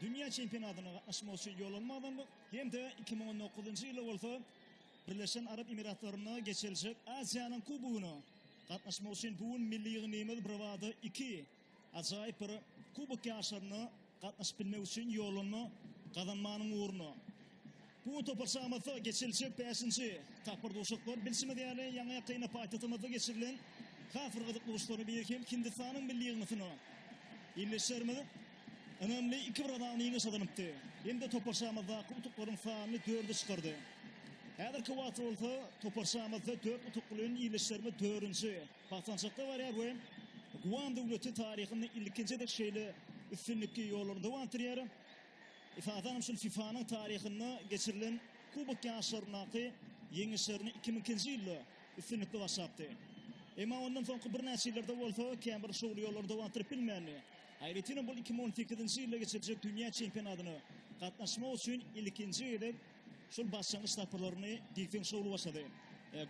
Dünýä çempionatyna gatnaşmak üçin ýollanmadan hem-de iki müň on dokuzynjy ýylda bolsa Birleşen Arap Emiratlarynda geçiriljek Aziýanyň Kubogyna gatnaşmak üçin bu gün milli ýygnymyz birbada iki ajaýyp bir Kubok ýaryşlaryna gatnaşyp bilmek üçin ýollanma gazanmanyň ugruna Bu topar şamasy geçiriljek bäşinji tapgyr duşuşyklar. Bilşimiz ýaly, ýaňy-ýakynda paýtagtymyzda geçirilen has bir gyzykly duşuşyklaryň biri hem Hindistanyň milli ýygyndysyna ildeşlerimiz ynamly iki bir azan ýeňiş gazanypdy. Hem de topar şamazdaky utuklaryň sanyny dörde çykardy. Häzirki wagtda bolsa topar şamazda dört utuk bilen ildeşlerimiz dördünji basgançakda barýar we Guam döwleti taryhynda ilkinji gezek şeýle üstünlikli ýollaryny dowam etdirýär. Esasanam şul FIFA-nyň taryhynda geçirilen Kubok ýaryşlaryndaky ýeňişlerini iki müň ikinji ýylda üstünlikli başlapdy. Emma ondan soňky birnäçe ýyllarda bolsa käbir şowly ýollary dogandyryp bilmändi. Aýratynam ol iki müň on sekizinji ýylda geçiriljek dünýä çempionatyna gatnaşmak üçin ilkinji gezek şol başlangyç tapgyrlaryny diýseň şowly başlady.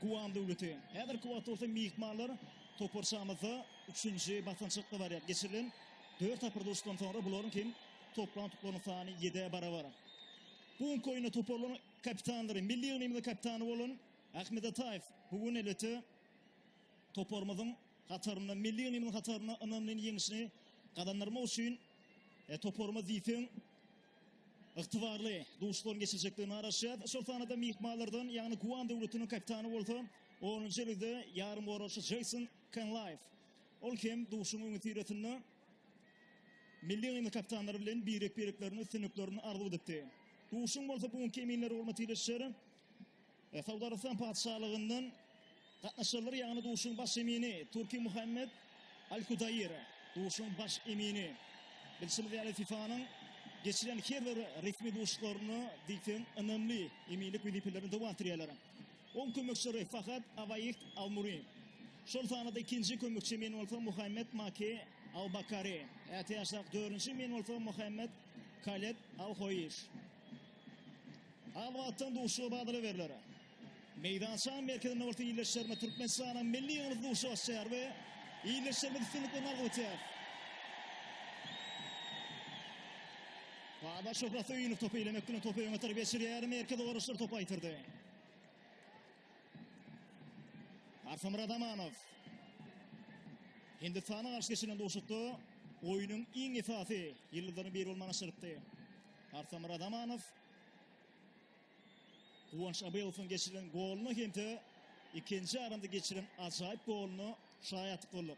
Guam döwleti. Häzirki wagtda bolsa myhmanlar toparçamyzda üçünji basançakda barýar. Geçirilen dört tapgyr duşuşykdan soňra bularyň hem Toplan tuklaryň sany 7-e barabar. Bu günki oýunda toparlaryň kapitanlary, milli ýygnymyzyň kapitany bolan Ahmet Ataýew bu gün elbetde toparymyzyň hatarynda, milli ýygnymyzyň hatarynda ynamly ýeňişini gazandyrmak üçin e, toparymyz diýseň ygtybarly duşlaryň geçirjekdigini garaşýar. Şol sanada myhmanlardan, ýagny Guan döwletiniň kapitany bolsa 10-njy ýylda ýarym oraçy Jason Kenlaýew. Ol hem duşuň öňüsyrasynda Milli oýna kapitanlar bilen birek-bireklerine üstünliklerini arzuw edipdi. Duşuň bolsa bu günki eminler hormaty ile şer e, Saud Arabystan patyşalygyndan gatnaşarlar, ýagny duşuň baş emini Türki Muhammed Al-Kudaýir, duşuň baş emini. Bilşimiz ýaly FIFA-nyň geçiren her bir resmi duşuklaryna diýseň ynamly eminlik wezipelerini dowam etdirýärler. Oň kömekçileri Fahad Awaýiht Al-Muri, şol sanda-da ikinji kömekçi men bolsa Muhammet Maki Al-Bakari, ätiýaçlyk dördünji men bolsa Muhammet Kaled Al-Hoýiş. Al wagtdan duşuşyga badalga berler. Meýdançanyň merkezinde bolsa ildeşlerimiz Türkmenistanyň milli ýygyndysyy duşuşyk açýar we ildeşlerimiz üstünlik bilen algyp ötýär. Baba Şöhrat Söýünow topy elemek bilen topy öňe tarap geçirýär, merkez owaryşdyr topy aýtyrdy. Arsamyrat Amanow. Hindistana garşy geçilen duşukda oýnuň iň esasy ýyldyzlarynyň biri bolmagyny aşyrypdy. Arsamyrat Amanow Guwanç Abelowyň geçiren goluna hem-de ikinji aranda geçiren ajaýyp goluna şaýatlyk bolduk.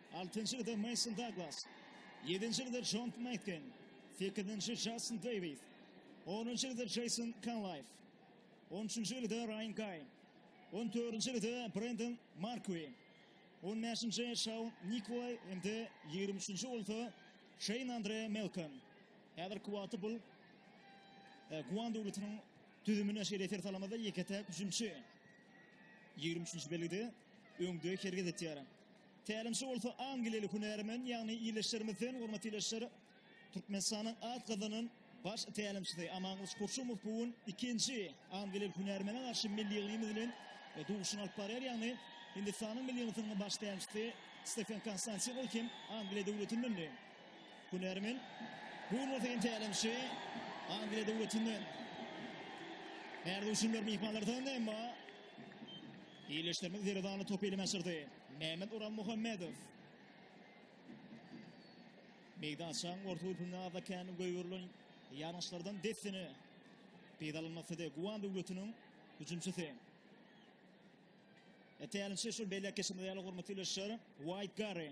Altynjy gyzda Mason Daglas, ýedinji gyzda Jon Meýtgen, sekizinji Jastin Deýwis, onunjy gyzda Jeýson Kanlaýf, on üçünji gyzda Raýan Gaý, on dördünji gyzda Brendon Markwi, on bäşinji Şaun Nikolaý hem-de ýigrimi üçünji bolsa Şeýn Andre Melkan. Häzirki wagtda bu Guan döwletiniň düzümine şeýle ser salamyzda, ýeke-täk hüjümçi ýigrimi üçünji belgide öňde hereket etýär. Tälimçi bolsa angliýaly hünärmen, ýagny ildeşlerimizden, hormatly ildeşler, Türkmenistanyň at gazanan baş tälimçisi Amangylyç Kurşumow bu gün ikinji angliýaly hünärmene garşy milli ýygymy bilen duşuşygyny alyp barýar, ýagny Hindistanyň milli ýygyndysynyň baş tälimçisi Stefen Konstantin, ol hem Angliýa döwletindendi. Hünärmen bu gün bolsa tälimçi Angliýa döwletinden. Häzir duşunlar myhmanlardan, emma Ýerleşdirme Zerdany topy eline aşyrdy. Mehmet Oral Muhammedow. Meýdançaň orta hüpünde azakäni goýberilen ýangyçlardan dessine peýdalanmak istedi. Guwan döwletiniň hüjümçisi. Tälimçi şol belläp geçmeli ýaly hormatly ýoldaşlar, White Garry.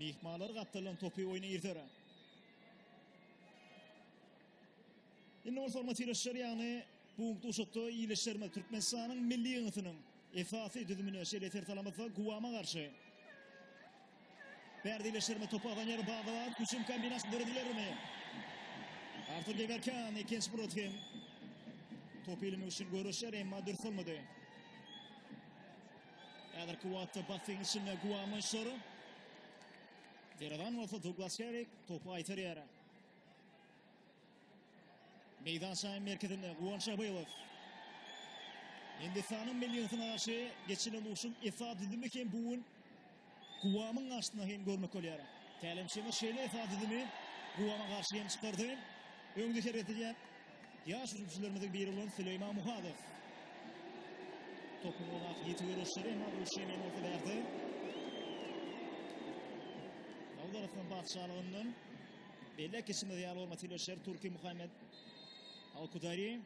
Myhmanlar gapdaldan topy oýna irder. Indi bolsa hormatly ýaşlar ýagny bu duşakda ýylyşlarymyz Türkmenistanyň milli ýygnatynyň esasy düzümine şeýle tertalamyzda Guwama garşy Berdi ýylyşlarymy topa alan ýeri barda bar. Hüjüm kombinasiýasy döredilermi? Artur Geberkan ikinci Murat hem top ilmek üçin görüşer, emma dürs olmady. Häzirki wagtda basseýniň içinde Guamanşor. Deradan bolsa Duglas Şerik topy aýtar ýere. Meýdançanyň merkezinde Guwan Şabylow. Hindistanyň milli ýygnaşy geçilen urşuň esas düzümi hem bu gün Guwamyň garşysyna hem görmek bolýar. Tälimçimiz şeýle esasy düzümi Guwama garşy hem çykardy. Öňde hereket edýän ýaş hüjümçilerimiziň biri bolan Süleýman Muhadow. Topuň ozak ýiti görüşleri emma bu üçem hem bolsa bärde. Saud Arabistan patyşalygyndan belläp geçimiz ýaly hormatly ýoldaşlar Türki Muhammed Al-Kudari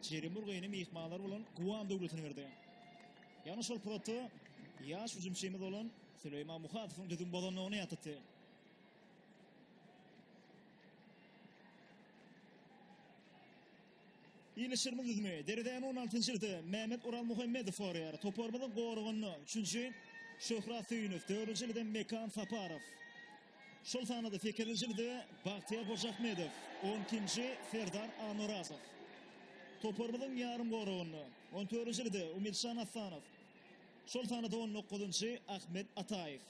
Jerimurgaýyny myhmanlar bolan Guwam döwletine berdi. Ýagny şol pursatda ýaş hüjümçimiz bolan Süleýman Muhadowyň düzüm bozandygyny ýatlatdy. Ilişirimiz düzümi. Deredäni 16-njyda Mehmet Ural Muhammedow gorýar. Toparymyzyň goragynda 3-nji Şöhrat Söýünow, 4-nji ýylda Mekan Saparow. Şol sanada sekizinji jilde Bagtyýar Hojaahmedow, on ikinji Serdar Annorazow. Toparymyzyň ýarym goragynda, on dördünji jilde Umidjan Assanow. Şol sanada on dokuzynjy Ahmet Ataýew.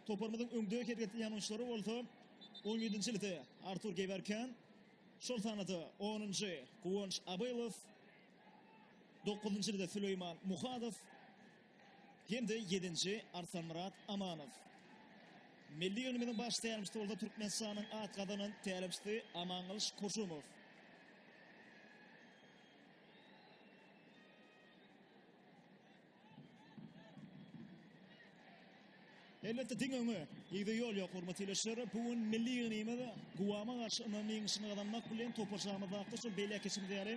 Toparymyzyň öňde hergetleýän oýunçylary bolsa, on ýedinji jilde Artur Gewerken, şol sanada onunjy Guwanç Abylow, dokuzynjy jilde Süleýman Muhadow. Hem-de ýedinji, Arsanmyrat Amanow. Milli ýygnymyzyň baş tälimçisi bolsa Türkmenistanyň at gazanan tälimçisi Amangylyç Koşumow. Elbetde diňe öňe, ýigde ýol ýok, hormatly ildeşler. Bu gün milli ýygnymyz Guama garşy ynamly ýeňişini gazanmak bilen, toparçamyzda şu beýläk geçenimiz ýaly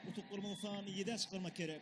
utuklarymyzy sany ýedä çykarmak gerek.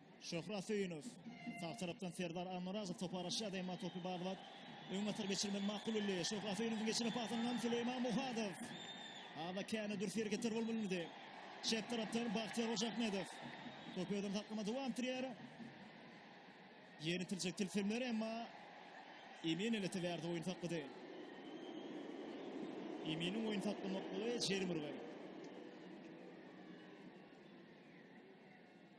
Şöhrat Söýünow. Sag tarapdan Serdar Almyrazow topy araşýar, emma topy barlap, öň atyp geçirmegi makul bildi. Şöhrat Söýünowyň geçiren pasyndan Süleýman Muhadow. Ada käni dürs hereketler bolup bilmedi. Çep tarapdan Bagtyýar Hojaahmedow. Topy özünde saklama dowam etdirýär. Ýeni tiljek tilsimler, emma Emin eleti bärde oýun saklady. Eminiň oýun saklamaklygy Jerimurga.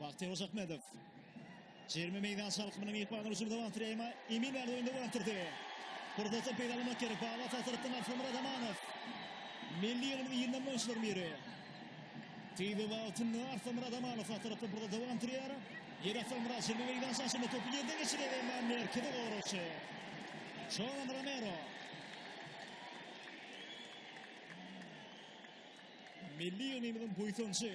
Bagtyýar Ozakmedow. Jerime meýdança alkymynyň ýykmany üçin wagt reýma emin bäri oýunda görüpdirdi. Pursatdan peýdalanmak gerek. Baba tasyrykdan Arslan Myradamanow. Milli ýylyň ýylynyň oýunçylaryň biri. Tizi wagtynda Arslan Myradamanow tasyrykdan burada dowam turýar. Ýeri Arslan Myrad jerime meýdança aşyny topu ýerden geçirýär emma merkezi goragçy. Şolan Romero. Milli ýylyň buýsanjy.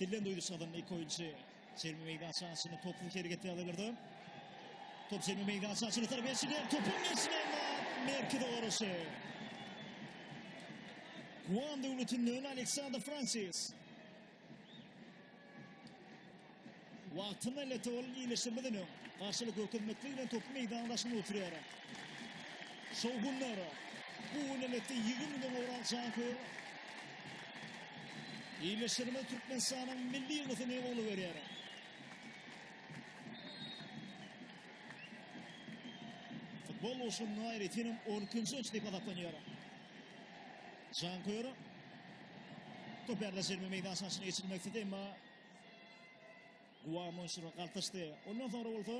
Dillen duýduş adamly iki oýunçy Jermi meýdan şansçyny topuň hereketi alyrdy. Top Jermi meýdan şansçyny tarap geçdi. Topuň geçdi. Merkez oruşy. Guan döwletinden Aleksandr Fransis. Wagtynda lete bolan iýleşmeden öň, garşylyk görkezmeklik bilen topuň meýdan daşynda oturýar. Şowhunlar. Bu gün elbetde ýygy müňden gowrak jan köýer. Iýleşmede Türkmenistanyň milli ýygyndysyny gola berýär. Futbol uşunda aýratynam 12-nji ýyl diýip hasaplanýar. Jan köýer. Top ýerleşdirme meýdançasyna geçirmek istedi, emma Guamo şura galtaşdy. Ondan soňra bolsa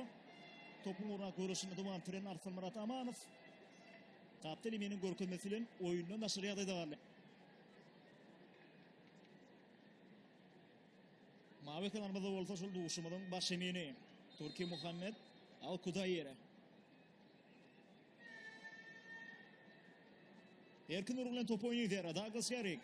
topuň ugra görüşini dowam etdiren Arslanmyrat Amanow Kapteli meniň görkezmesi bilen oýunda naşyr ýagdaýda galdy. Mawy kenarymyzda bolsa şol duşumyzyň baş emini Turki Muhammed Al Kudayir. Erkin urgun bilen top oýnaýar Douglas Garrick.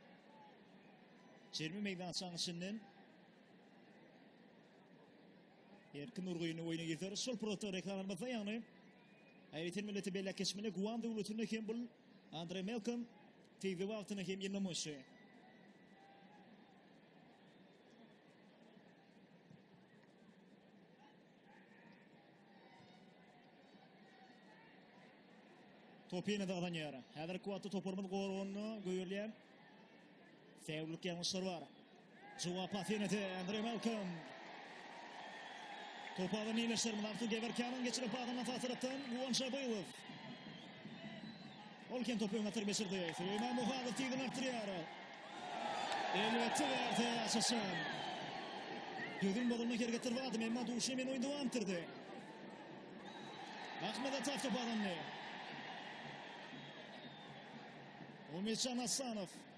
Çermi meýdançaň içinden Erkin Nurgyny oýna getirir. Şol pursatda reklamamyzda ýagny Aýratyn milleti belläp geçmeli Guam döwletinde hem bul Andre Melkom tizi wagtyny hem ýygnamaýşy. Topu ýene-de gazanýar. Häzirki wagtda toparymyz goragynda göýerýär. Säwlik ýalňyşlar bar. Jogap pas ýene-de Andre Malcolm. Topu alan ýeňişlerimiz Artur Gewerkýanyň geçirip adyna tasyrapdan Guwan Şabylow. Ol kem topy öňe atyp geçirdi. Süleýman Muhadyr tigini artdyrýar. Elbetde bärde açyşan. Gözün bolanda hergetler wady, emma duşy men oýun dowam etdirdi. Ahmet Ataf topadandy. Umytjan Asanow.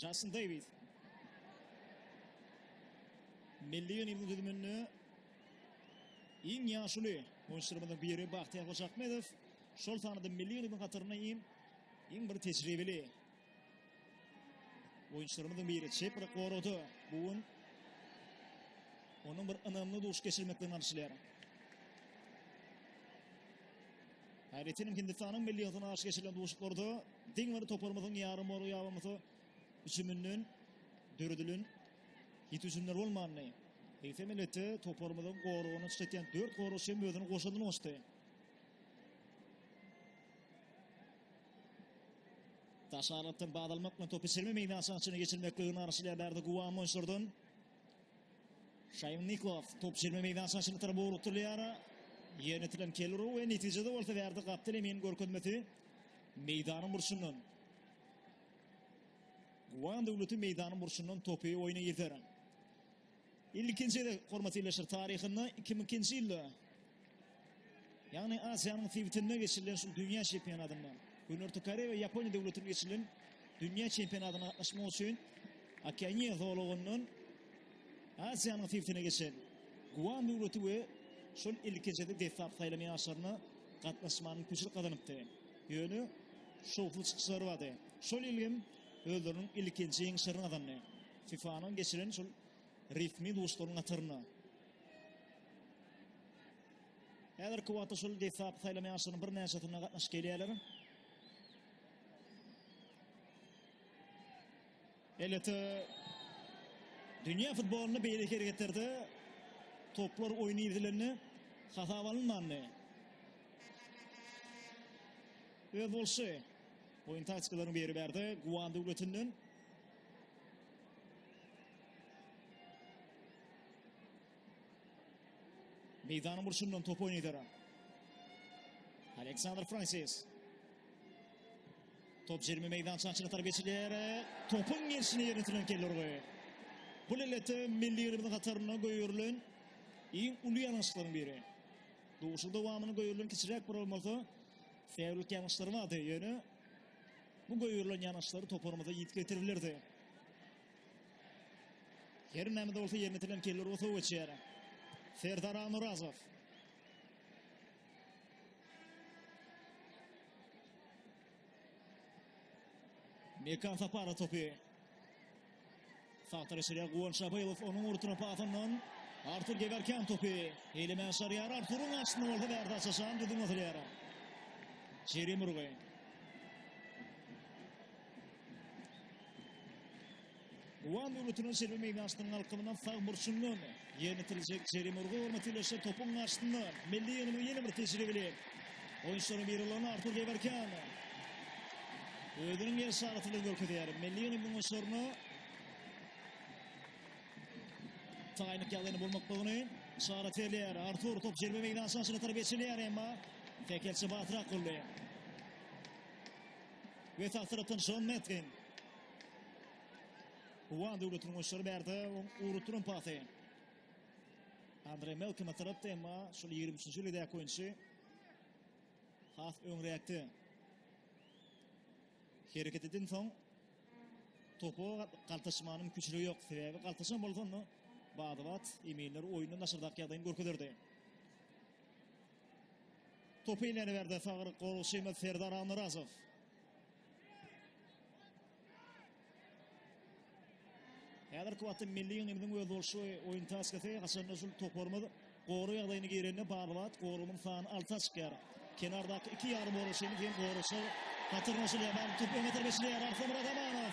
Jason Davis. Milli ýygnaýyň düzüminde iň ýaşuly oýunçylarymyzyň biri Bahtiýar Hojakmedow. Şol sanada milli ýygnaýyň hataryna iň iň bir tejribeli oýunçylarymyzyň biri çep bir gorady. Bu gün onuň bir ynamly duş geçirmekden alşylýar. Aýratynam Hindistanyň milli ýygdyna garşy geçirilen duşuşyklarda diň bir toparymyzyň ýarym orag ýabamyzy üçüminden döredilen ýiti hüjümler bolmandy. Eýsem elbetde toparymyzyň goragyny çytýan 4 goragçy hem özüni goşadyny goşdy. Taşarlatdan baz almak bilen topy çelme meýdançasyna geçirmeklige arşylýar Bärde Guwam oýunçylardan. Şaým Niklas top çelme meýdan şaşyny tarap ugrukdyrýar. Ýerletilen Kelru we netijede bolsa Wärdi Gapdyl emin görkezmesi meýdanyň burçundan. Guwan Döwleti meýdanyň burçundan topy oýna girder. Ilkinji gezek hormatly ýerleşir taryhynda 2002-nji ýylda Ýagny Aziýanyň sebitinde geçirilen şu dünýä çempionatynda Günorta Koreýa we Ýaponiýa döwletinde geçirilen dünýä çempionatyna gatnaşmak üçin Okeaniýa zolagyndan Aziýanyň sebitine geçen Guam döwleti we şol ilkinjide deslap saýlan ýaşlaryna gatnaşmaga mümkinçilik gazanypdy. Ýöne şowsuz çykyşlary bardy. Şol ýyl hem özleriniň ilkinji ýeňişlerini gazandy. FIFA-nyň geçiren şol resmi duşuşyklaryň hatarynda Häzirki wagtda şol deslapky saýlama ýaryşlarynyň birnäçesinde gatnaşyp gelýärler. Elbetde dünýä futbolynda beýleki hereketlerde toplar oýny ýerlenende hasap alynmandy. Öz bolşy oýun taktikalaryň biri bärde Guan döwletinden Meýdanyň burçundan top oýnaýdara. Aleksandr Fransis. Top jerime meýdançasyna tarap geçiler. Topuň gelşini ýerine sürýän Kellerwe. Bu lelete milli ýerimiziň hatarynda goýurylan iň uly ýalňyşlaryň biri. Duşuň dowamyny goýurylan kiçiräk bir bolmasa, säwlik ýalňyşlary bardy. Ýöne bu goýurylan ýalňyşlary toparymyza ýitgetirilerdi. Her näme-de bolsa ýerine itilen keller bolsa geçýär. Serdar Almyrazow. Mekan Sapara topy. Sahtar eşirýär Guwan Şabaýewow onuň urtuna pasyndan Artur Gewerken topy. Eýlemen şarýar Arturyň aşyny bolsa bärde açaşan düzüm atylýar. Jerim urgy. Wan döwletiniň çerbi meýdançasynyň alkymynyň sag burçundan ýerletiljek jerime urgy hormaty ile şu topuň garşysynda milli ýygyndyň ýene bir tejribeli oýunçylarynyň biri bolan Artur Debarkan özüniň ýerşaraty bilen görkezýär. Milli ýygyndyň oýunçylaryna taýynlyk ýagdaýyny bolmaklygyny şarat berýär. Artur top jerime meýdançasyna tarap geçilýär, emma tekelçi batyrak boldy. Ve sağ tarafdan John Metgen. Uwan döwletiniň oşary berdi. Urup duran pasy. Andre Melkima tarapda emma şol 23-nji ýyldäki oýunçy has öňräkde hereket eden soň topu galtaşmanyň küçüri ýok. Sebäbi galtaşan bolsa onda badybat eminler oýundan daşardak ýagdaýyny görkezerdi. Topy ileriberde sagryk goragçymyz Serdar Annyrazow. Häzirki wagtda milli ýygyndymyzyň özboluşy oýun taktikasy haçanda şul toparymyz goru ýagdaýyna girende barbat gorumyň sany alta çykýar. Kenardaky iki ýarym goragçymyz hem goragçy hatyrnaşylýar. Barbat topu öňe tarap eşilýär. Arslan Myrat Amanow.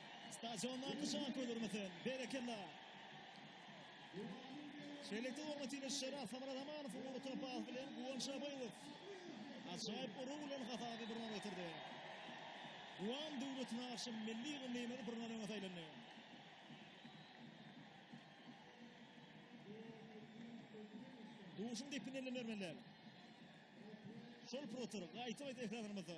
Stadiondaky şan ködürmesin. Berekella. Şeýlelikde hormatly ýolbaşçylara Samara Ramanow uly topar bilen Guwan Şabaýew ajaýyp urugy bilen hasaby bir nol getirdi. Guwan döwlet nagşy milli ýygyndymyz bir nol öňe saýlandy. Duşuň depini ellemeler. Şol protur, gaýta-gaýta ekranlarymyzda.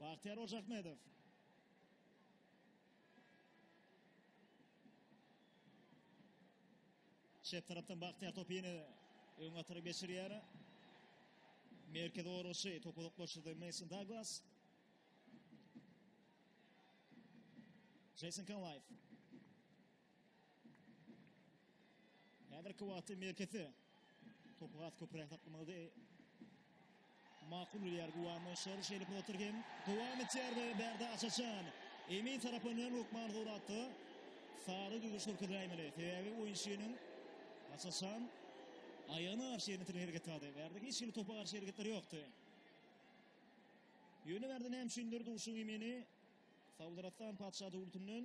Bagtyýar Ojahmedow. Çep tarapdan Bagtyýar topy ýene öňe atyryp geçirýär. Merkez goragçy topu uzaklaşdyrdy Mason Douglas. Jason Kanlaýew. Häzirki wagtda Merkezi topu has köpräk saklamagy makul bilýär Guwamy. Şor şeýle pursatlar hem dowam etýär we bärde Açaçan. Emin tarapyndan hökman gowratdy. Sary düzüş görkezäýmeli. Sebäbi oýunçynyň Açaçan aýagyna garşy ýerine tirgen hereket zady. Bärde hiç hili topa garşy hereketler ýokdy. Ýöne bärde näme üçindir duşuň emini Saudarastan patyşa döwletinden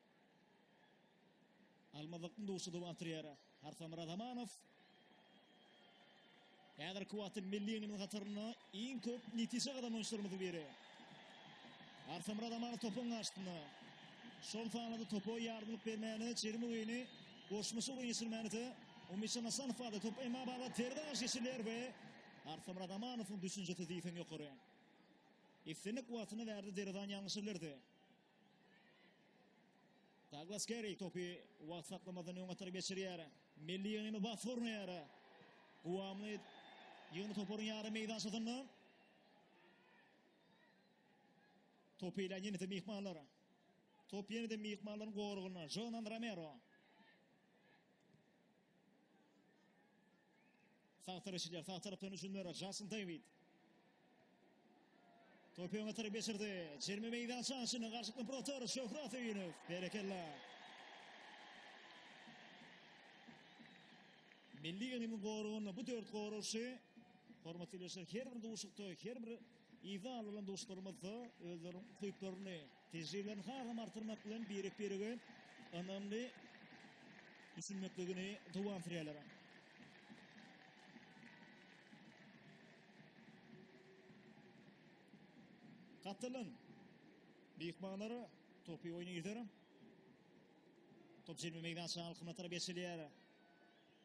Almazlygyň duşy dowam etdirýär Arsamyrat Amanow. Häzirki wagtda milli ýygynyň hatarynda iň köp netije gazanan oýunçylarymyzyň biri. Arsamyrat Amanow topuň garşysynda. Şol sanada topa ýardamlyk bermäne çerim oýuny goşmaça oýun geçirmäne-de Umytjan Hasanow bardy. Top Emma Baba terden garşy geçirilýär we Arsamyrat Amanowyň düşünjesi diýseň ýokary. Islendik wagtyna bärde derwezäni ýalňyşa bilerdi. Daglas Kerri topy wagt saklamadan öň atar geçirýär. Milli ýygny bas gurnaýar. Guwamly ýygny toparyň ýarym meýdançasynda. Topy ile ýene-de myhmanlar. Top ýene-de myhmanlaryň goragynda. Jonan Romero. Sag tirişilýär, sag tarapdan hüjümlere Jason David. Topy öňe tarap geçirdi. Jerime meýdan şansyny garşykdan protor Şöhrat Öýünow. Berekella. Milli geňiň goragynda bu dört goragçy hormatly ýoldaşlar her bir duşukda, her bir ýerde alynan duşuklarymyzda özleriniň ukyplaryny tejribelerini has hem artdyrmak bilen birek-birege ynamly düşünmekligini dowam sürýärler. Katalon myhmanlar topu oýna gider. Top jemi meydançaň alkymyna tarap geçilýär.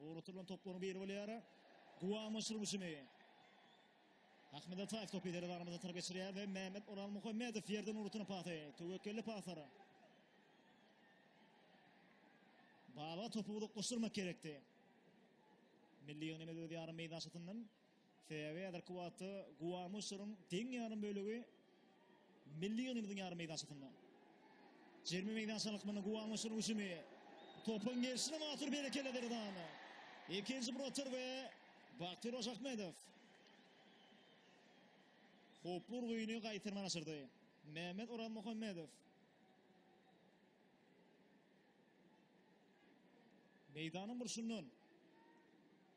Ugratylýan toplaryň biri bolýar. Guwanyç rüwşüni. Ahmet Ataýew topy ileri darwaza tarap geçirýär we Mehmet Orazmuhammedow ýerden ugratýan pasy. Töwekgelli pasar. Baba topy uzaklaşdyrmak gerekdi. Milli ýygnymyz öz ýarym meýdançasyndan Sebäbi häzirki wagtda guwama şaryň deň ýarym bölegi milli ýygyndymyzyň ýarym meýdançasynda. Jerime meýdançasynyň lykmanda guwama şaryň hüjümi. Topuň gelşine mahsus berekella Derdan. Ikinji bir otur we Batyr Hojakmedow howply urgyny gaýtarman aşyrdy. Mehmet Orazmuhammedow meýdanyň burçundan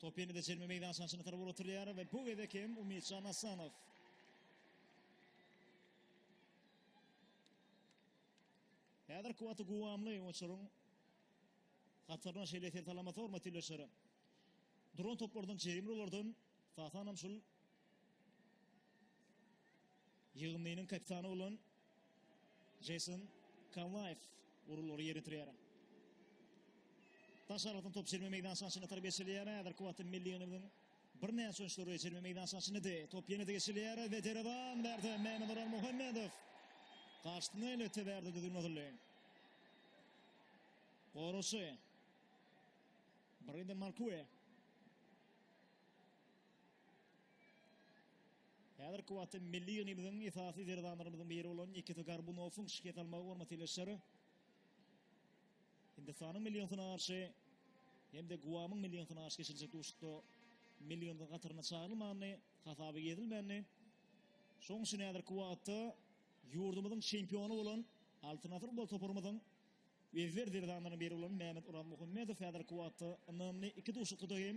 Top ýene-de çelme meýdançasyna çyna tarap ugrutylýar we bu gezek hem Umytjan Asanow. Häzir kuwwaty guwamly oýunçylaryň hataryna şeýle eser salamasa hormatly ildeşler. Duran toplardan jerimli olardan tasanam şul Ýygyndynyň kapitany bolan Jeýson Kanlaýew urullary ýerine ýetirýär. Daş aralykdan top çelme meýdançasyna çenli atar geçilýär. Häzirki wagtda milli ýygyndymyzyň birnäçe oýunçylary çelme meýdançasyna çenlidi. Top ýene-de geçilýär we derewan bärde Mämmeduran Muhammedow garşysyna elbetde bärde düzgün atyldy. Goragçy Brenden Markue Häzirki wagtda milli ýygnymyzyň esasy zerdanlarymyzyň biri bolan Nikita Gorbunowyň şikes almagy bolmasa telaşar Hindistanyň milli ýygyndysyna garşy hem-de Guamyň milli ýygyndysyna garşy geçiriljek duşuşykda milli ýygyndyň hataryna çagyrylmandyny, hasaba girizilmändi. Şonuň üçin häzirki wagtda ýurdumyzyň çempiony bolan Altyn asyr futbol toparymyzyň ezber zerdanlarynyň biri bolan Mämmet Orazmuhammedow häzirki wagtda ynamly iki duşuşykda hem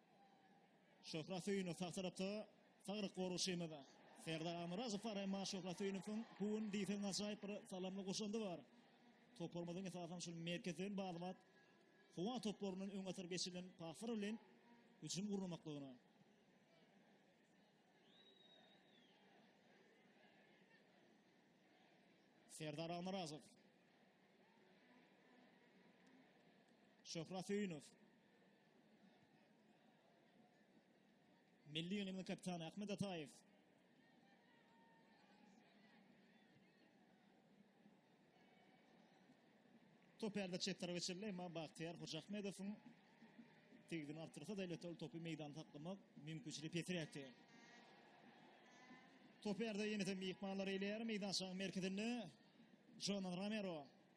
Şöhrat Söýünow sag tarapda, saglyk goragçymyz. Serdar Almyrazow bar, emma Şöhrat Söýünowyň bu gün diýseň ajaýyp bir salamly goşandy bar. Toparymyzyň esasan şol merkezden bat-bat howa toplaryndan öňe atylyp geçirilen paslar bilen hüjüm gurnamaklygyna. Serdar Almyrazow. Şöhrat Söýünow. Milli ýygynyň kapitany Ahmet Ataýew. Top ärde çep tarap geçirildi, emma Bagtyýar Hojaahmedowyň tegizini artdyrsa-da, elbetde ol topy meýdanda saklamak mümkinçiligi pesiräkdi. Top ärde ýene-de myhmanlar eýleýär, meýdançanyň merkezinde Jonan Romero.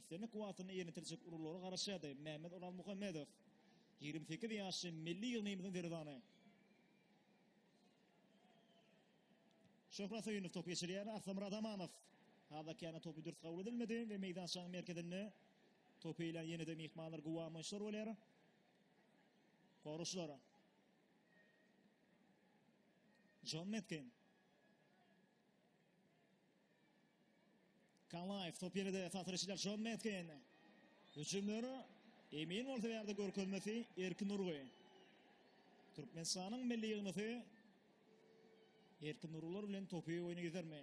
Islendik wagtyny ýerine ýetirjek uruglara garaşýardy, Mämmet Orazmuhammedow, ýigrimi sekiz ýaşly milli ýygnagymyzyň derwezany. Şöhrat Söýünow topy geçirýär, Arslanmyrat Amanow hazakiýana topy dürs kabul edilmedi we meýdançanyň merkezinde topy eýlän ýene-de myhmanlar guwangyçlar bolýar. Goraşlar. Jon Metkin. Kanaýew top ýene-de esasy reşidler Şon Mesgen. Hüjümler emin bolsa ýerde görkezmesi Erkin Urgy. Türkmenistanyň milli ýygnasy Erkin Urgular bilen topy oýna gidermi?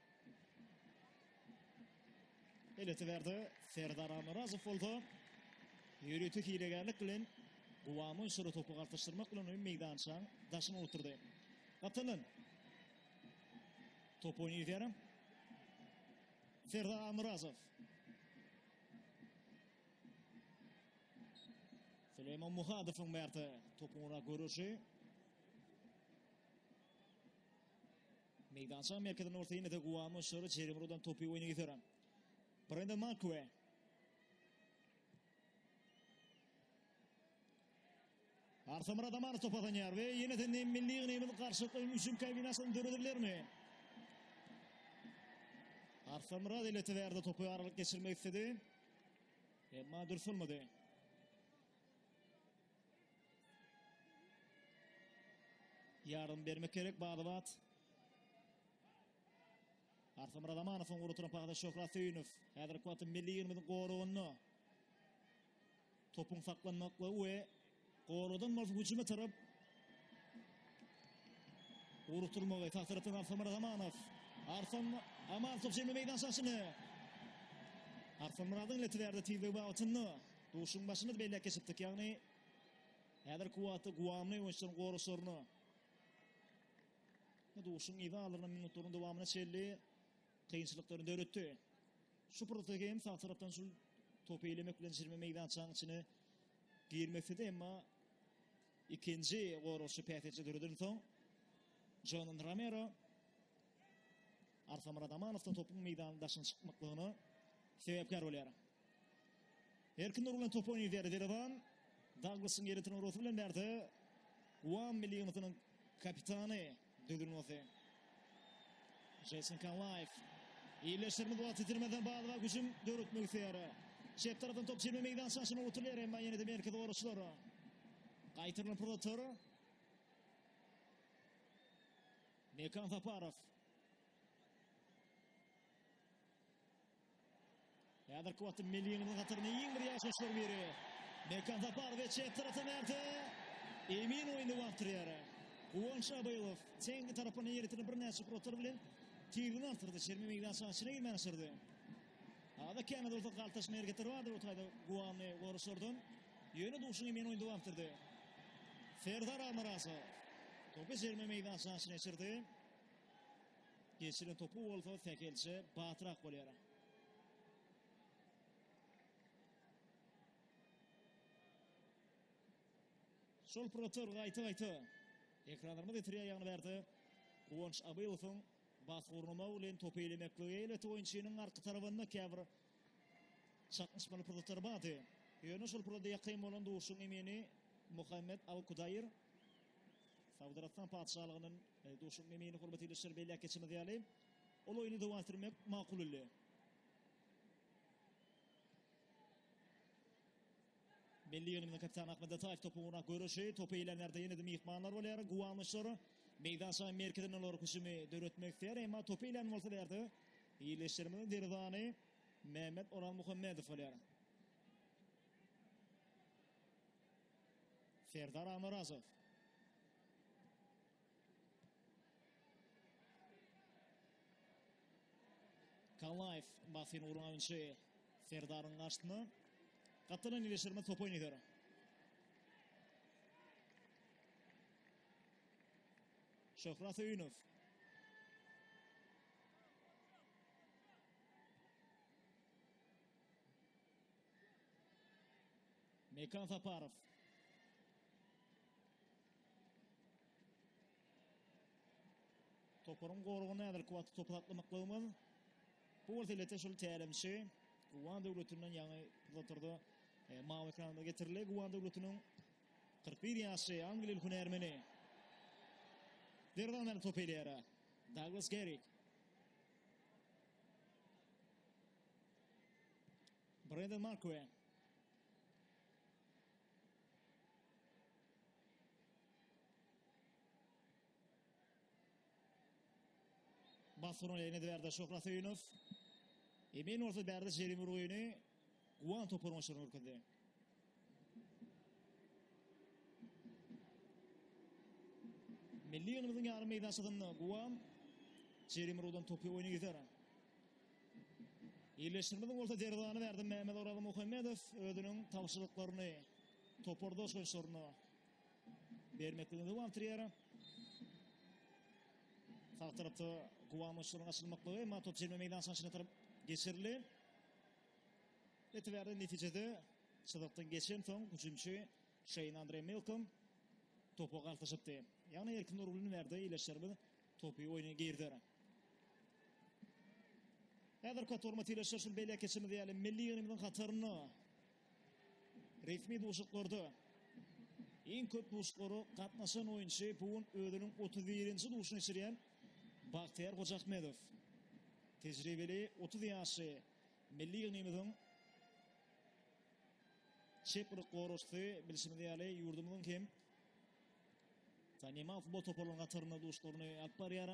Eletiberdi Serdar Almyrazow bolsa ýörite hilegärlik bilen Guwama Uşura topy galtaşdyrmak bilen ony meýdançaň daşyna oturdy. Gatalan. Top oýny ýüzer. Serdar Almyrazow. Süleýman Muhadowyň märte topuň ora görüşi. Meýdançaň merkezinde orta ýerinde Guamo Şor jerime ugradan topy oýna getiren. Brenden Makue. Arsamyr Adamanov top azanýar we ýene-de milli ýygnymyz garşylykly hüjüm kombinasiýasyny döredilermi? Arsamyr Adelete berdi topy aralyk geçirmek istedi. Emma dürs bolmady. Ýardam bermek gerek bada-bat. Arslanmyrat Amanow oňa oturan pagda Şöhrat Söýünow. Häzirki wagtda milli ýygyndymyzyň goragynda topuň saklanmaklygy we goradan bolsa hüjüme tarap Urutulmagy tasarrufdan Arslanmyrat Rahmanow. Arslan Aman top jemle meydan şaşyny. Arslan Muradyň ile tilerdi tizligi babatynda. Duşuň başyny belläp geçipdik, ýagny häzirki wagtda guwamly oýunçylaryň goraşaryna duşuň yza alynan minutlaryň dowamyna çenli kynçylyklary döretdi. Şu pursatda hem sag tarapdan şu topy elemek bilen çirme meýdançanyň içine girmekde de emma ikinji goraşy päsgelçe döreden soň Jonan Romero Arkamyrat Amanow-da topuň meýdanyň daşyna çykmaklygyna sebäpkär bolýar. Erkin dur bilen top oýnaýar Derewan. Daglysyň ýeritini urasy bilen bärde Guam milli ýygnasynyň kapitany düzülmesi. Jason Kanlaýew. Iýleşdirme wagt itirmeden Balwa güjüm döretmek isleýär. Çep tarapdan top çelme meýdançasyna otulýar, emma ýene-de merkez goraçlar. Gaýtarylan pursatlar. Mekan Saparow. Häzirki wagtda Meliniň hataryna iň bir ýaşaşlar biri. Mekan Saparow çep tarapdan bärde. Emin oýny wagtyrýar. Guwanç Abaýew teňli tarapyna ýeritini birnäçe protor bilen tigini artyrdy. Çerme meýdançasyna girmän aşyrdy. Ada käme dursa galtaşma hereketleri bardy bu taýda guwanly goruşlardan. Ýöne duşuň emen oýun dowam etdirdi. Serdar Almyrasow topy jerime meýdançasyna geçirdi. Geçiren topu bolsa Sähelçe batyrak bolýar. Şol protor gaýta-gaýta ekranlarymyz getirýär ýagny bärde Guwanç Abylowyň Bas gurnamak bilen topy elemeklige elbetde oýunçynyň arka tarabynda käbir çaknyşmaly pursatlary bardy. Ýöne şol pursada ýakyn bolan duşuň emini Muhammet Al-Kudaýr, Saud Arabystan Patyşalygynyň duşuň emini hormaty ile şir belläp geçimiz ýaly, ol oýny dowam etdirmek makul bildi. Milli ýygyndymyzyň kapitany Ahmet Ataýew topuň ugruna göreşi, topy eýlänlerde ýene-de myhmanlar bolýar. Guwanlyçlar meýdançanyň merkezine ularyp hüjümi döretmek isleýär, emma topy eýlän bolsa bu ýerde ildeşlerimiziň derzany Mehmet Orazmuhammedow bolýar. Serdar Amarazow. Kallaýew basyny guran oýunçy Serdaryň garşysyna. Gapdalan ýerleşdirme top oýnaýar. Şöhrat Öýünow. Mekan Saparow. Toparyň goragynda häzirki wagtda topy saklamaklygymyz. Bu bolsa ilete şol tälimçi Guwan döwletinden ýaňy pursatlarda e, mawy ekranymyza getirildi. Guwan döwletiniň 41 ýaşly angliýaly hünärmeni. Derwazany top elýär. Douglas Gerik. Brendan Markwe. Basgyryn eýledi Bärde Şöhrat Söýünow. Emin bolsa Bärde jerim urgyny Guwan toparyň oýunçylaryna görkezdi. Milli ýygnymyzyň ýarym meýdançasynda Guwan jerim urgudan topy oýna gider. Ýerleşdirmede bolsa derwazany Bärde Mämmedoraly Muhammedow özüniň tabşyryklaryny topardaşlaryna bermekligini dowam etdirýär. Sag tarapda guwançlaryň açylmaklygy, emma top jemle meýdançanyň içine tarap geçirildi. Etiberde netijede çyzykdan geçen soň hüjümçi Şeýn Andre Milkom topa galtaşypdy. Ýagny Erkin Nurgulyny berde ileşlerimiz topy oýna girder. Häzirki wagtda hormatly ileşler şu belek geçimiz ýaly milli ýygnymyzyň hatarynda Resmi duşuklarda iň köp duşuklara gatnaşan oýunçy bu gün özüniň otuz birinji duşuny geçirýän Bagtyýar Hojaahmedow. Tejribeli otuz ýaşly milli ýygnymyzyň çep gylyk goraşçysy bilşimiz ýaly ýurdumyzyň hem tanymal futbol toparlarynyň hatarynda duşuklaryny alyp barýar.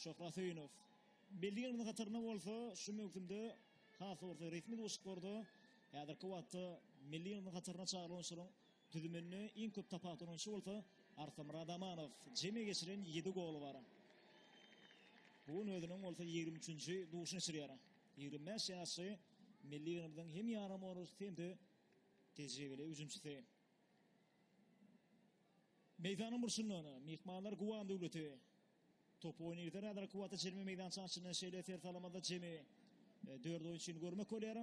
Şöhrat Söýünow. Belli ýyllaryň hatarynda bolsa şu möwsümde has orta resmi duşuşyklarda häzirki wagtda milli ýygnagyň hataryna çagyrylan oýunçylaryň düzüminde iň köp tapawutlan oýunçy bolsa Arslanmyrat Amanow. Jemi geçiren ýedi goly bar. Bu gün özüniň bolsa ýigrimi üçünji duşuny geçirýär. Ýigrimi bäş ýaşly milli ýygnamyzyň hem ýaramaz orusy hem-de tejribeli hüjümçisi. Meýdanyň burçundan myhmanlar Guwan Döwleti topy oýnaýarlar. Häzirki wagtda jerime meýdançanyň içinde şeýle ser salamada jemi dört oýunçyny görmek bolýar.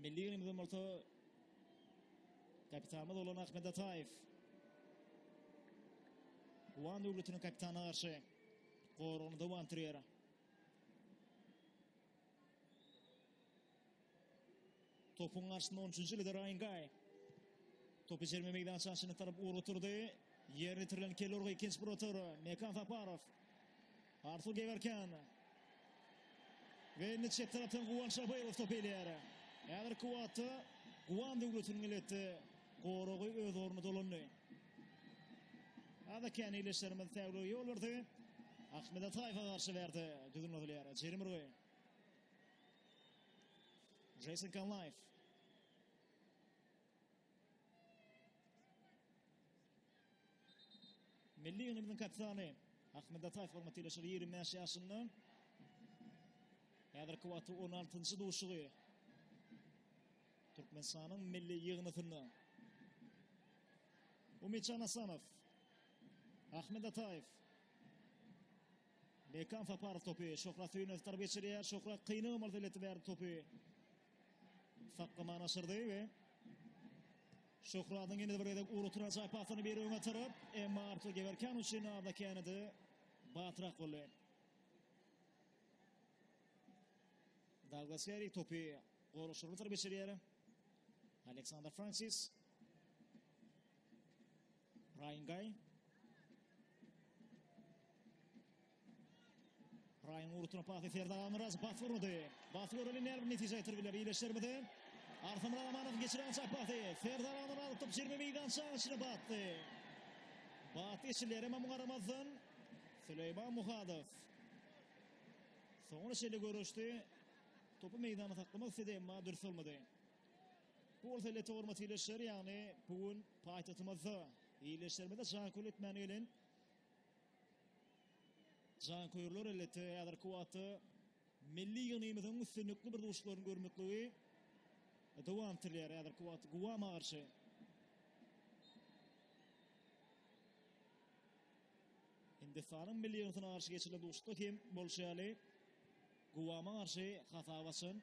Milli ýygrymyzdan bolsa kapitanymyz bolan Ahmet Ataýew Guwan Döwletiniň kapitanyna garşy goragyny dowam etdirýär. Topuň garşysynda 13-nji Lida Raýingaý. Topy jerime meýdançasyna tarap ugur oturdy. Ýer ýetirilen Kellorga ikinji bir otur. Mekan Saparow. Artur Gewerken. Ve indi çep tarapdan Guwan Şabyrow top elýär. Häzirki wagtda Guwan döwletiniň elbetde goragy öz ornuny dolandy. Ada kän ileşlerimiz täwlige ýol berdi. Ahmet Ataýewa garşy berdi. Düzgün bozulýar. Jerim urgy. Jason Kanlaýew. Milli ýygyndymyň kapitany Ahmet Ataýew hormat ýylyşygy 25 ýaşynda. Häzirki wagtda 16-njy duşugy Türkmenistanyň milli ýygyndysynda. Umytjan Asanow. Ahmet Ataýew. Bekan Saparow topy Şöhrat Söýünow tarap geçirýär. Şöhrat kyn ymyrt eleti bärde topy saklamana aşyrdy we Şöhradyň ýene bir gezek urutyr ajaýyp pasyny biri öňe tarap, emma Artur Gewerkan üçin arda känedi batrak boldy. Douglas Harry topy goraşyryna tarap geçirýär. Aleksandr Fransis Raýn Gaý. Raýn urutuna pasy Ferda Almyraz bas urdy. Bas urdy näme bir netije getirip biler iýleşermidi? Arham Rahmanow geçiren çak pasy Ferda Almyraz atyp 20 meýdan çaşyna batdy. Bat işler hem muňa garamazdan Süleýman Muhadow soňra şeýle görüşdi. Topu meýdana saklamak istedi, emma dürs bolmady. Bu bolsa elbetde hormatly ildeşler, ýagny bu gün paýtagtymyzda ildeşlerimize janköýerlik etmäne gelen janköýerler elbetde häzirki wagtda milli ýygnymyzyň üstünlikli bir duşlaryny görmekligi dowam etdirilýär. Häzirki wagtda Guwama garşy Hindistanyň milli ýygyndysyna garşy geçirilen duşuşykda hem bolşy ýaly Guwama garşy hasap açan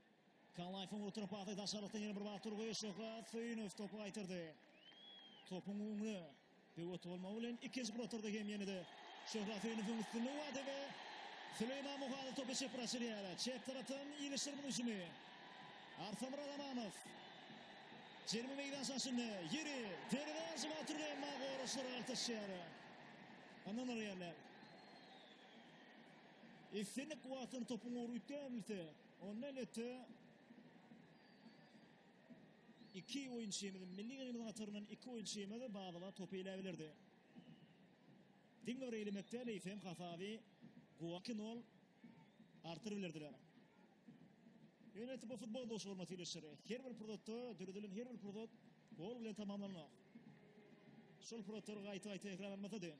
Kallaýewiň orta pasy daşarykdan ýene bir wagt urgy, Şöhrat Söýünow topy gaýtardy. Topuň öňüne böwet bolmagy bilen ikinji protorda hem ýene-de Şöhrat Söýünowyň üstünligi bardy we Süleýman Muhadow topy çep bir açylýar. Çep tarapdan Ilişir bu hüjümi. Arsamyrat Amanow jerime meýdança içinde ýeri derwezä hüjüm atyr, emma goraçlar galtaşýar. Ynanylýar. Islendik wagtynda topuň ugry üýtgäbilse, Ondan öte iki oýunçymyz, milli liderimiziň hataryndan iki oýunçymyz badyla topy iläp ilerdi. Diňe bir eýlemek däl, eýsem hasaby Guaky nol artyryp ilerdiler. Ýöne bu futbol duşy hormatly ildeşler. Her bir pursatda döredilen her bir pursat gol bilen tamamlanmak. Şol pursatlar gaýta-gaýta tekrarlanmasady.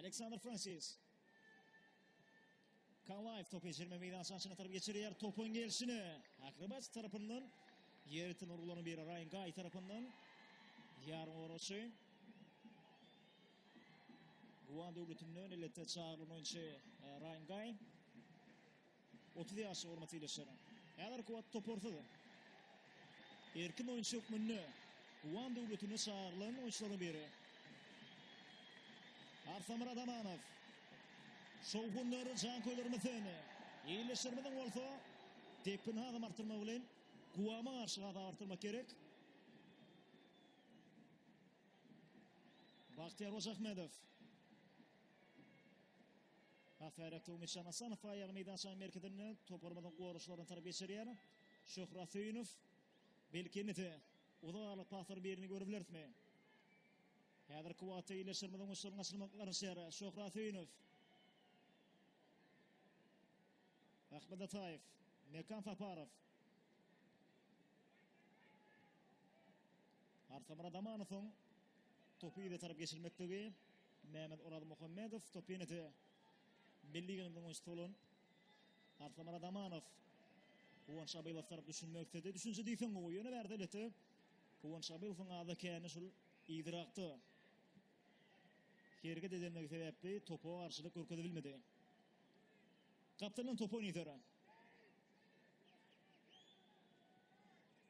Aleksandr Fransis. Kalaýew topy ýetirme meýdançasyna tarap geçirýär. Topuň gelşine Akrobats tarapyndan ýerden urgulan bir Raýan Gaý tarapyndan ýarym oraçy. Guwan döwletinden elbetde çagyrlan oýunçy e, Raýan Gaý. Otuz ýaşly hormatly ildeşler, häzirki wagt toparsyz erkin oýunçy hökmünde Wan döwletine çagyrylan oýunçylaryň biri. Arsamyrat Amanow. Şowhunly janköýlerimiz seni. Ildeşlerimiziň bolsa depgini hasam artdyrmak bilen Guwama garşy hasap artdyrmak gerek. Bagtyýar Hojaahmedow. Ahyret Tugmytjan Hasanow aýagy meýdançanyň merkezinde toparymyzyň goraçlaryny tarap geçirýär. Şöhrat Söýünow, belki indi-de uzak aralyk paslaryň birini görebilerismi? Häzirki wagtda ýerleşdirmeziň uçlaryny açylmagyna garaşýar Şöhrat Söýünow. Ahmet Ataýew, Mekan Saparow. Arsamyrat Amanowyň topy yza tarap geçirmekdigi. Mehmet Orazmuhammedow topy ýene-de milli ýygyndyň oýunçysy bolan Arslanmyrat Amanow Guwanç Abylowa tarap düşünmek isledi. Düşünje diýseň gowy, ýöne bärde elbetde Guwanç Abylowyň azy kände şul yzyrakda hereket edendigi sebäpli topa garşylyk görkezip bilmedi. Gapdaldan top oýnaýar.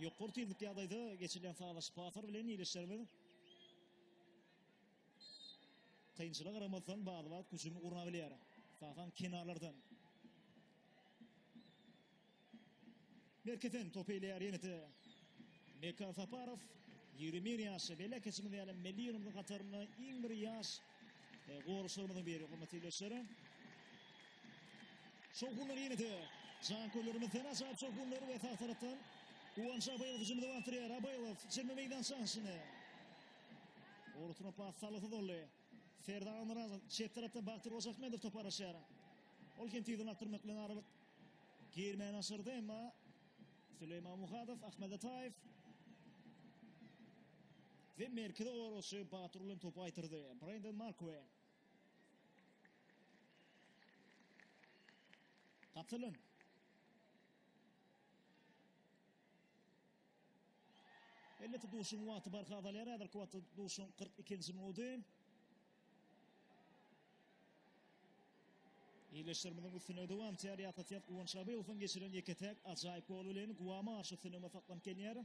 Ýokary tizlikli ýagdaýda geçilýän sazlaşyk pasar bilen ildeşlerimiz kynçylyga garamazdan bada-bat hüjümi gurna bilýär. Esasan kenarlardan. Merkezden top eýleýär ýene-de Mekan Saparow. 21 ýaşy belli äkeçimiz ýaly milli ýylymyzyň hatarynda iň bir ýaş Goraşlarymyzyň biri, hormatly ildeşler. Şowhunlar ýene-de janköýerlerimiz täze çap şowhunlar we sag tarapdan Guwanç Abaýew hüjümde batyrýar. Abaýew 20 meýdança aşyny. Ortuna pas salgysyz boldy. Serdar Almaraz çep tarapda Baktyr Ojakmedow topa araşýar. Ol hem tizden atdyrmak bilen aralyk girmäni aşyrdy, emma Süleýman Muhadow, Ahmed Ataýew We merkezi goragçy Batyr bilen topy gaýtardy. Brenden Markue. Katylan. Elbetde duşuň wagty barha azalýar. Häzirki wagtda duşuň 42-nji minudy. Ýerleşdirmeden üstüne dowam etýär. Ýatatýat Guwanç Abylowyň geçiren ýeke-täk ajaýyp gol bilen Guwama garşy üstünligine saklanyp gelýär.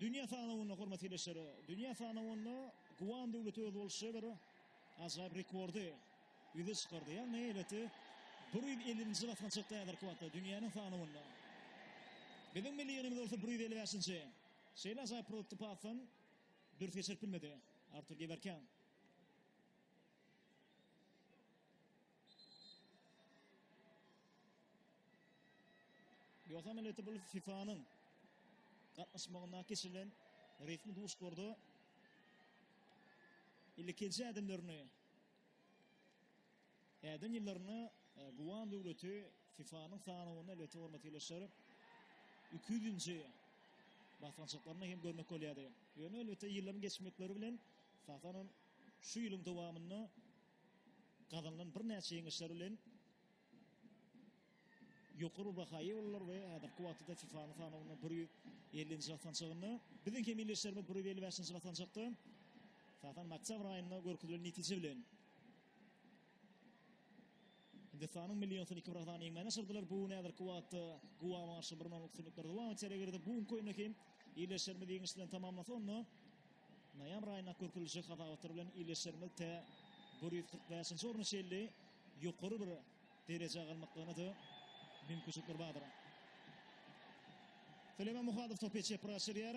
Dünýä sanawynda, hormatly ildeşler, dünýä sanawynda Guam döwleti özboluşly bir ajaýyp rekordy ýüze çykardy. Ýagny elbetde bir ýüz ellinji basgançakda häzirki wagtda dünýäniň sanawynda. Biziň milli ýygnymyz bolsa bir ýüz elli bäşinji. Şeýle ajaýyp produkty pasdan dürs geçirip bilmedi Artur Gewerken. Ýogsa milleti bu FIFA-nyň gatnaşmagynda geçirilen resmi duşlarda ilkinji ädimlerini äden ýyllarynda e, Guwan döwleti FIFA-nyň sanawynda elbetde hormat ýerleşer. 200-nji basgançaklaryny hem görmek bolýardy. Ýöne elbetde ýyllaryň geçmekleri bilen Satanam şu ýylyň dowamynda gazanylan birnäçe ýeňişler bilen ýokary baha eýe boldular we häzirki wagtda FIFA-nyň sanawynda bir ýüz ellinji basanjagynda. Biziň hem ildeşlerimiz bir ýüz elli bäşinji basanjakda. Esasan, oktýabr aýynda görkezilen netije bilen Hindistanyň milli ýygyndysyny iki bir sany ýeňmäne çyzdylar. Bu gün häzirki wagtda Guama garşy bir nol üstünlikler dowam etýär. Eger-de bu günki oýunda hem ildeşlerimiz ýeňiş bilen tamamlasa, onda noýabr aýynda görkeziljek hasabatlar bilen ildeşlerimiz tä bir ýüz kyrk bäşinji orna çenli ýokary bir derejä galmaklygyna-da mümkinçilikler bardyr. Süleýman Muhadow topy çepre gaçyrýar.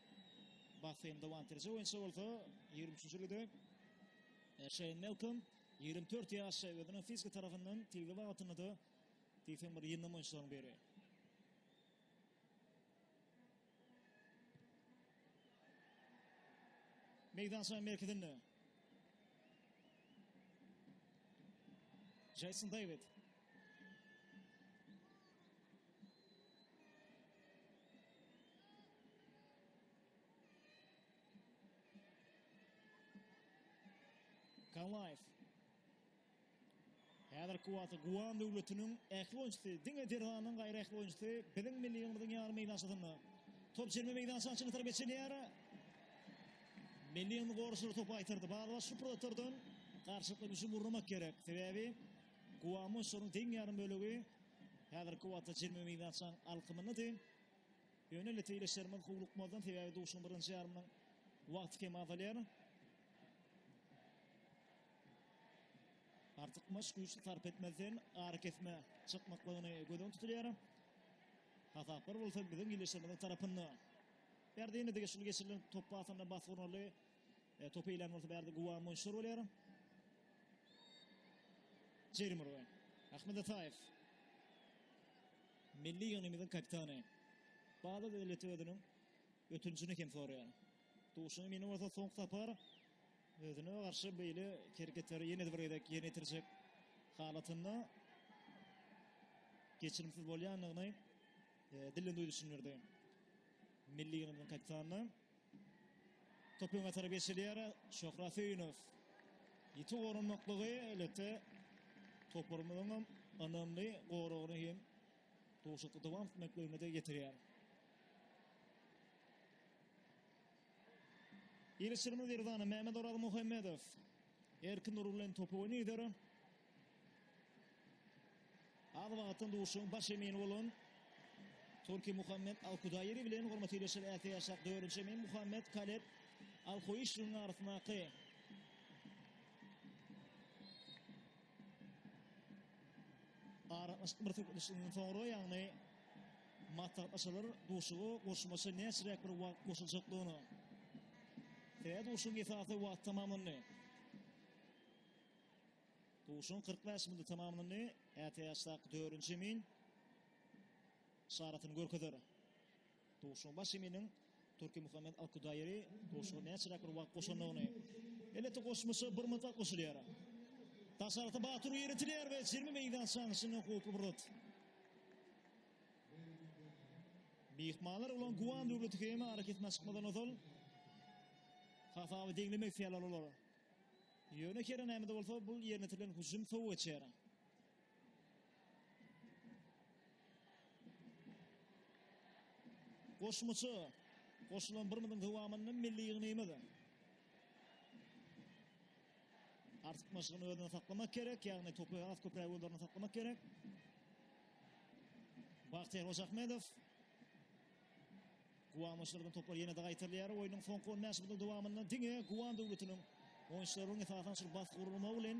Bahreýn dowam etdiriji oýunçy bolsa ýigrimi üçünji ilide Şeýn Melkom ýigrimi dört ýaş özüniň fiziki tarapyndan tiz wagtynda-da diýseň bir ýyndam oýunçylaryň biri. Meýdançanyň merkezinde Jason David Galaýew. Häzirki wagtda Guwan döwletiniň ähli oýunçysy, diňe derwanyň gaýry ähli oýunçysy biziň milli ýygyndymyzyň ýarym meýdançasynda. Top çelme meýdança açyk tarap geçilýär. Milli ýygyndy goraşlary topy aýtyrdy. Balyba şu pursatlardan garşylykly güýçli gurnamak gerek. Sebäbi Guwan oýunçylarynyň deň ýarym bölegi häzirki wagtda çelme meýdançanyň alkymyndady. Ýöne netijeleşerimiz howlukmazdan, sebäbi duşuň birinji ýarymynyň wagty kem azalýar. Artykmaç güýç sarp etmezden arakesmä çykmaklygyny göz öňünde tutulýar. Hasaplar bolsa biziň ýylyşymyzyň tarapynda. Berdine degişli geçirilen top pasynda Basgurnaly Topy ilan bolsa bärde Guwa Monşur bolýar. Jerry Murway. Ahmed Ataýew. Milli ýygnymyzyň kapitany. Bada döwleti özüniň ötünjini hem soraýar. Duşuň emini bolsa soňky sapar özüne garşy beýle hereketleri ýene-de bir gezek ýerine ýetirjek halatynda geçirimsiz bolýandygyny e, dilden duýduryşyny berdi. Milli ýygnymyzyň kapitanyna. Topyň atary geçilýär. Şöhrat Söýünow. Ýiti goranmaklygy elbetde toparymyzyň hem ynamly goragyny hem duşakda dowam etmekligine-de getirýär. Ýerleşdirme Derzana, Mämmedoraz Muhammedow. Erkin Nur bilen topy oýnaýar. Az wagtdan duşuň baş emini bolan Turki Muhammed Al-Kudaýiri bilen hormaty ýaşar äse ýaşak dördünji emin Muhammed Kaleb Al-Huýşiniň arasyndaky aralaşyk bir söhbetdeşlikden soňra, ýagny maslahatlaşarlar duşugy goşmaça näçeräk bir wagt goşuljakdygyny. Sebäbi duşugyň esasy wagty tamamlandy. Duşuň kyrk bäş minuty tamamlandy. Ätiýaçdaky dördünji emin yşaratyny görkezer. Duşuň baş eminiň Turkimuhammet Alkudaýeri duşuga näçeräk bir wagt goşandygyny. Elbetde goşmaça bir minut wagt goşulýar. Daş arasy Batur ýeritiler we jemi meýdançanyň içinden howply bir zat. Myhmanlar ulan Guan döwleti hem arakesmä çykmadan ozal hasaby deňlemek isleýärler olar. Ýöne Keren Ämede bolsa bu ýerinietirilen hüjüm sow geçýär. Goşmaça goşulan bir munuň dowamynda milli ýygnymyz artykmaçlygyny özünde saklamak gerek, ýagny topy has köpräk özlerinde saklamak gerek. Bagtyýar Hojaahmedow Guwanmaçlygyň topary ýene-de gaýtarylýar. Oýnuň soňky on bäş minutynyň dowamynda diňe Guwan döwletiniň oýunçylarynyň esasan şol basyk gurulmagy bilen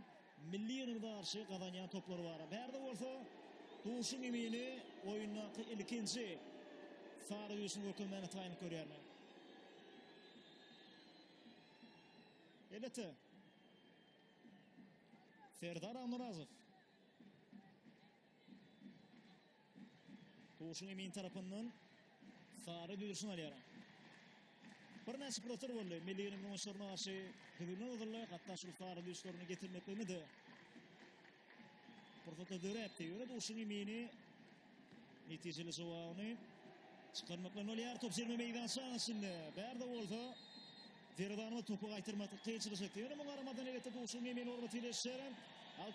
milli ýygynyna garşy gazanýan toplary bar. Bärde bolsa duşuň emini oýundaky ilkinji sary güýçüni görkezmäne taýynlyk görýärler. Elbetde. Serdar Almyrazow. Duşun Emin tarapyndan sary düzüşini alýar. Birnäçe pursatlar boldy. Milli günüň oýunçylaryna garşy düzgünden ozalda hatda şu sary düzüşlerini getirmekligini de pursatda döräpdi. Ýöne Duşun Emini netijeli jogabyny çykarmakla bolýar. Top jerime meýdançasynyň içinde. Bärde bolsa Derwanyma topu gaýtarmakda kynçylyk çekdi. Ýöne muňa garamazdan elbetde Duşun Emin orba tireşýär.